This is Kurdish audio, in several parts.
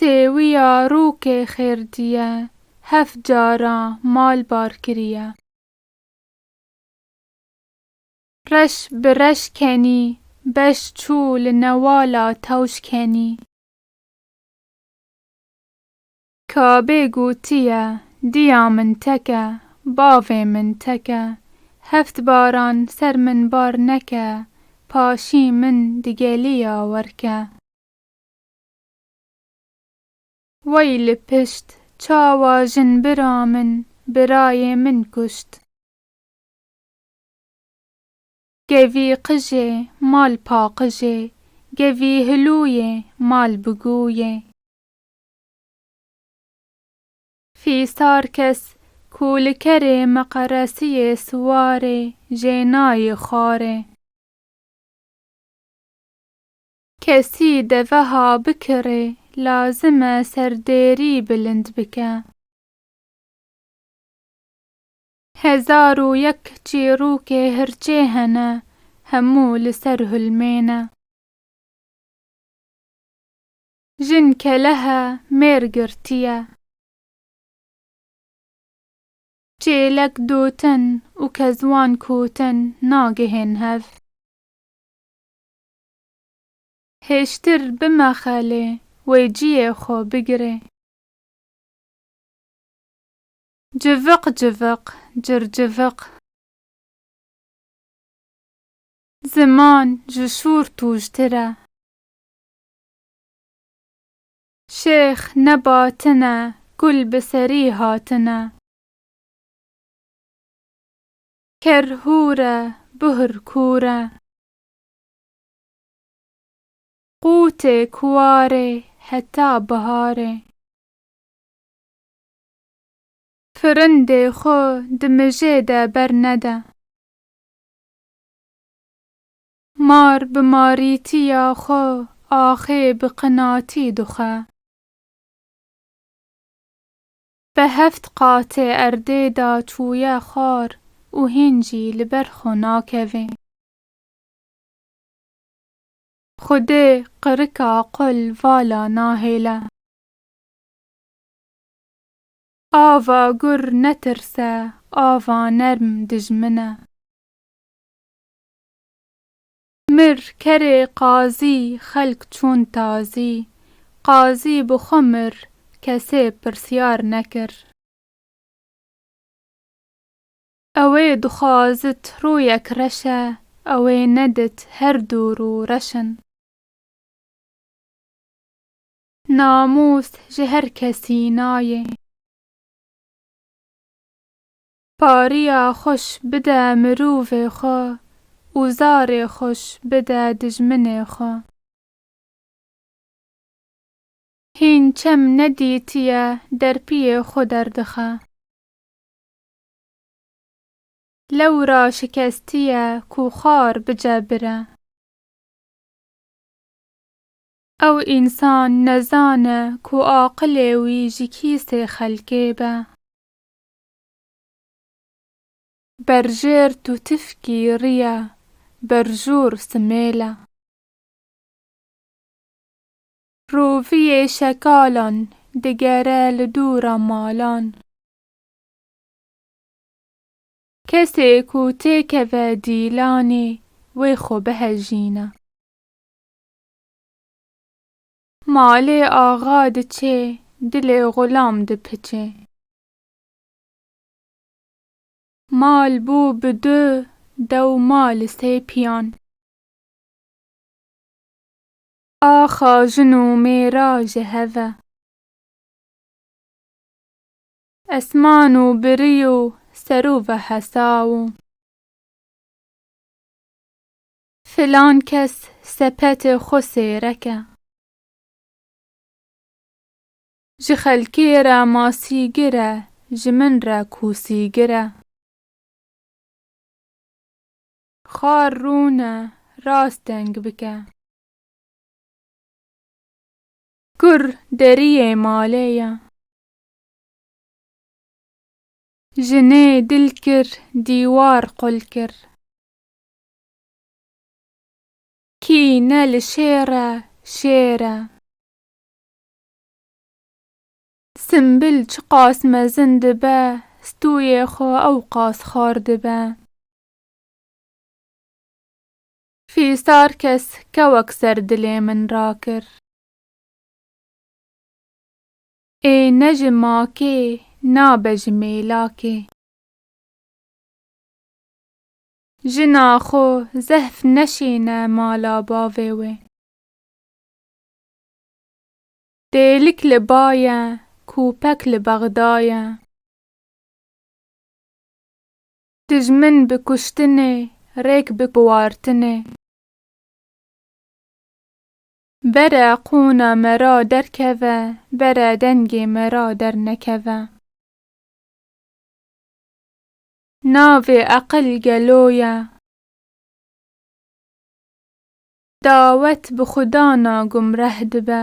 Sêwiya rûkê xêrdîye, heft caran mal bar kirîye. Reş bi reş kenî, beş çû li newala tewş kenî. Ka bê gotiye, Diya min teke, bavê min teke, heft baran ser min bar neke, paşî min digelî ya werke. Wey li pişt, çawa jin bira min, birayê min kuşt. Gevî qijê, mal paqijê, gevî hilûyê, mal bigûyê. Fîsar kes ku li kerê meqeresiyê siwar ê jê nayê xwarê. Kesî deveha bikirê lazim e serdêrî bilind bike. Hezar û yek çîrokê hirçê hene hemû li ser hulmê ne. Jin kelehe mêr girtiye. Çêlek dotin û kezwan kotin nagihên hev. Hêştir bimexe lê wê ciyê xwe bigirê. Civiq civiq, circiviq. Ziman ji şûr tûjtir e. Şêx nebatine, gul bi serî hatine. Ker hûr e, buhr kûr e. Qûtê kuwarê heta biharê. Firindê xo di mijê de bernede. Mar bi marîtiya xwe axê bi qinatî dixe. Bi heft qatê erdê de çûye xwar û hîn jî li ber xwe nakeve. Xwedê qirika qul vala nahêle. Ava gur netirse, ava nerm dijmine. Mir kerê qazî xelk çûn tazî. Qazî bi xwe mir kesê pirsyar nekir. Ewê dixwazit rûyek reşe ewê nedit her dû rû reş in. Namûs ji her kesî nayê. Pariya xweş bide mirovê xwe û zarê xweş bide dijminê xwe. Hîn çem nedîtiye derpiyê xwe derdixe. Lewra şikestiye ku xar bicebire. Ew însan nezane ku aqilê wî ji kîsê xelkê be. Berjêr tu tifkî rîya berjûr simêla. Rovîyê şekalan digere li dûra malan. Kesê ku têkeve dîlanê wê xwe bihejîna. Malê axa diçê dilê xulam dipiçê. Mal bû bi du dew ma li sê piyan. Axa jin û mêra ji hev e. Esman û birî û serû ve hesaw û. Filan kes sepetê xwe sêrek e. Ji xelkê re masîgir e, ji min re kûsîgir e. Xar rûn e, rast deng bike. Kur deriyê malê ye. Jinê dil kir, dîwar qul kir. Kî ne li şêr e, şêr e. Simbil çiqas mezin dibe, stûyê xwe ew qas xar dibe. Fîsar kes kewek ser dilê min rakir. Ê ne ji makê, nabe ji mêlakê. Jina xwe zehf neşêne mala bavê wê. Têlik li ba ye, kûpek li bexda ye. Dijmin bi kuştinê, rêk bi biwartinê. Bere qûna me ra derkeve, bere dengê me ra dernekeve. Navê eqil gelo ye. Dawet bi xuda na gumreh dibe.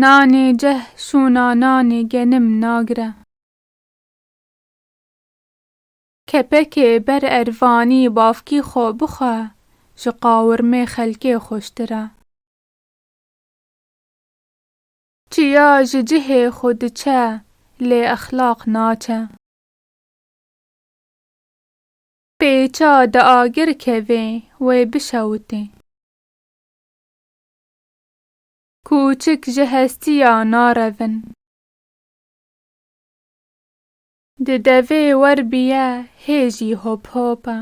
Nanê ceh şûna nanê genim nagre. Kepekê ber ervanî bavkî xo bixwe ji qawirmê xelkê xweştir e. Çiya ji cihê xwe diçe lê exlaq naçe. Pêça di agir kevê, wê bişewitê. Kûçik ji hestiya narevin. Di devê wer biye hê jî hop hop e.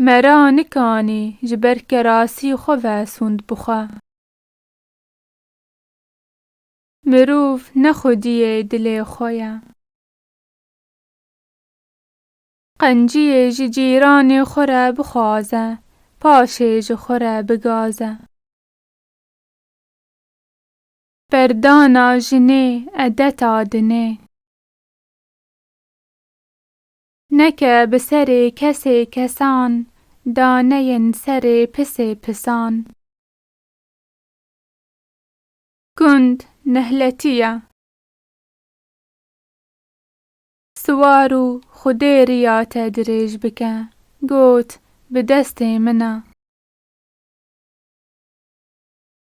Me ra nikanî ji ber kerasî xwe ve sûnd bi xwe. Mirov ne xwediyê dilê xwe ye. Qenciyê ji cîranê xwe re bixwaze, paşê ji xwe re bigaze. Berdana jinê edeta dinê. Neke bi serê kesê kesan, daneyên serê pisê pisan. Gund nehletî ye. Siwar û Xwedê riya te dirêj bike. Got, Bi destê min e.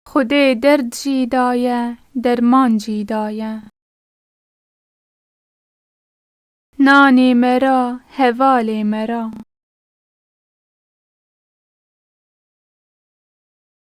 Xwedê derd jî daye, derman jî daye. Nanê me ra, hevalê me ra.